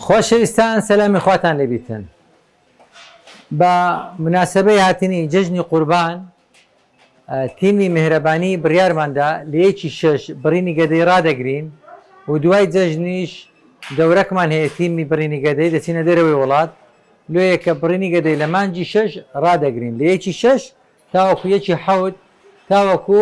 خۆشەویستان سەلامی خواتان لێ بیتن بە مناسەبەی هاتنی جەژنی قوربان تیمی مێهرەبانی بڕیارمان دا لە یەکی شەش بڕینی گەدەی ڕادەگرین و دوای جەژنیش دەورەکمان هەیە تیمی بڕینی گەدەی دەچینە دەرەوەی وڵات لۆیە کە بڕینی گەدەی لە مانگی شەش ڕادەگرین لە یەکی شەش تاوەکو یەکی حەوت تاوەکو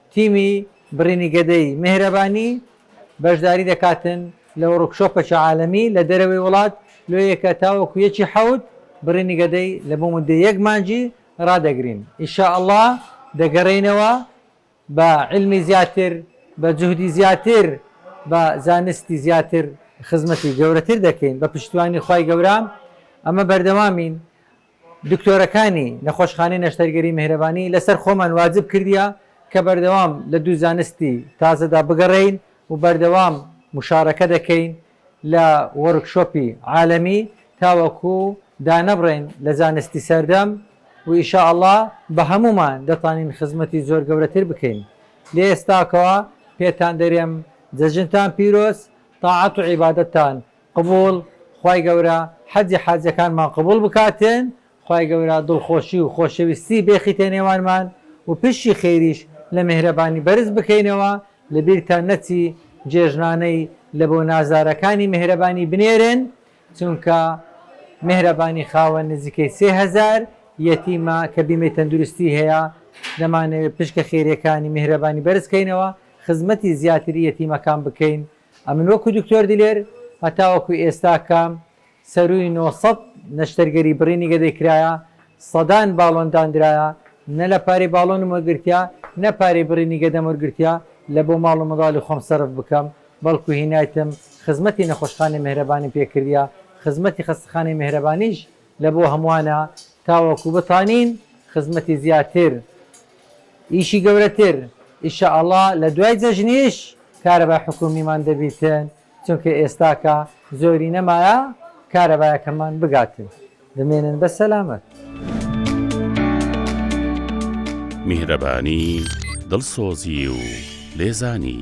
تیمی بڕینی گەدەی مێهرەبانی بەشداری دەکاتن لە وڕکشۆپەکێ عالەمی لە دەرەوەی وڵات لۆ یەکە تاوەکو یەکی حەوت بڕینی گەدەی لە بۆ موددەی یەک مانگی ڕادەگرین ان شاء اللە دەگەرێینەوە بە علمی زیاتر بە جوهدی زیاتر بە زانستی زیاتر خزمەتی گەورەتر دەکەین بە پشتیوانی خوای گەورە ئەمە بەردەوامین دکتۆرەکانی نەخۆشخانەی نەشتەرگەری میهرەبانی لەسەر خۆمان واجب کردیە کە بەردەوام لە دوو زانستی تازەدا بگەڕێین و بەردەوام مشارەکە دەکەین لە وۆرکشۆپی عالەمی تاوەکو دانەبڕێین لە زانستی سەردەم و ئیشاڵڵا بە هەموومان دەتانین خزمەتی زۆر گەورەتر بکەین لە ئێستاکەوە پێتان دەرێم جەژنتان پیرۆز تاعەت و عیبادەتتان قبوڵ خوای گەورە حەجی حاجەکانمان قبوڵ بکاتێن خوای گەورە دڵخۆشی و خۆشەویستی بێخیتە نێوانمان و پشی خێریش لە مێهرەبانی بەرز بکەینەوە لەبیرتان نەچی جێژنانەی لە بۆ نازارەکانی مێهرەبانی بنێرێن چونکە مێهرەبانی خاوەن نزیکەی سێ هەزار یەتیمە کە بیمەی تەندروستی هەیە دەمانەوێ پشکە خێریەکانی مێهرەبانی بەرز کەینەوە خزمەتی زیاتری یەتیمەکان بکەین ئەمن وەکو دکتۆر دلێر هەتاوەکو ئێستا کە سەرووی نۆ سەد نەشتەرگەری بڕینی گەدەی کرایە، سەدان باڵۆن داندرایە، نە لە پارەی باڵۆنم وەرگرتیە، نە پارەی بڕینی گەدەم وەرگرتیە لە بۆ ماڵ و منداڵی خۆم سەرف بکەم، بەڵکو هینایتم خزمەتی نەخۆشخانەی مێهرەبانیم پێ کردیە، خزمەتی خەستەخانەی مێهرەبانیش لە بۆ هەموانە تاوەکو بتانین خزمەتی زیاتر ئیشی گەورەتر ان شاء اللە لە دوای جەژنیش کارەبای حکومیمان دەبیتن چونکە ئێستاکە زۆری نەمایە کارەبایەکەمان بگاتن بمێنن بە سەلامەت. میهرەبانی دڵسۆزی و لێزانی.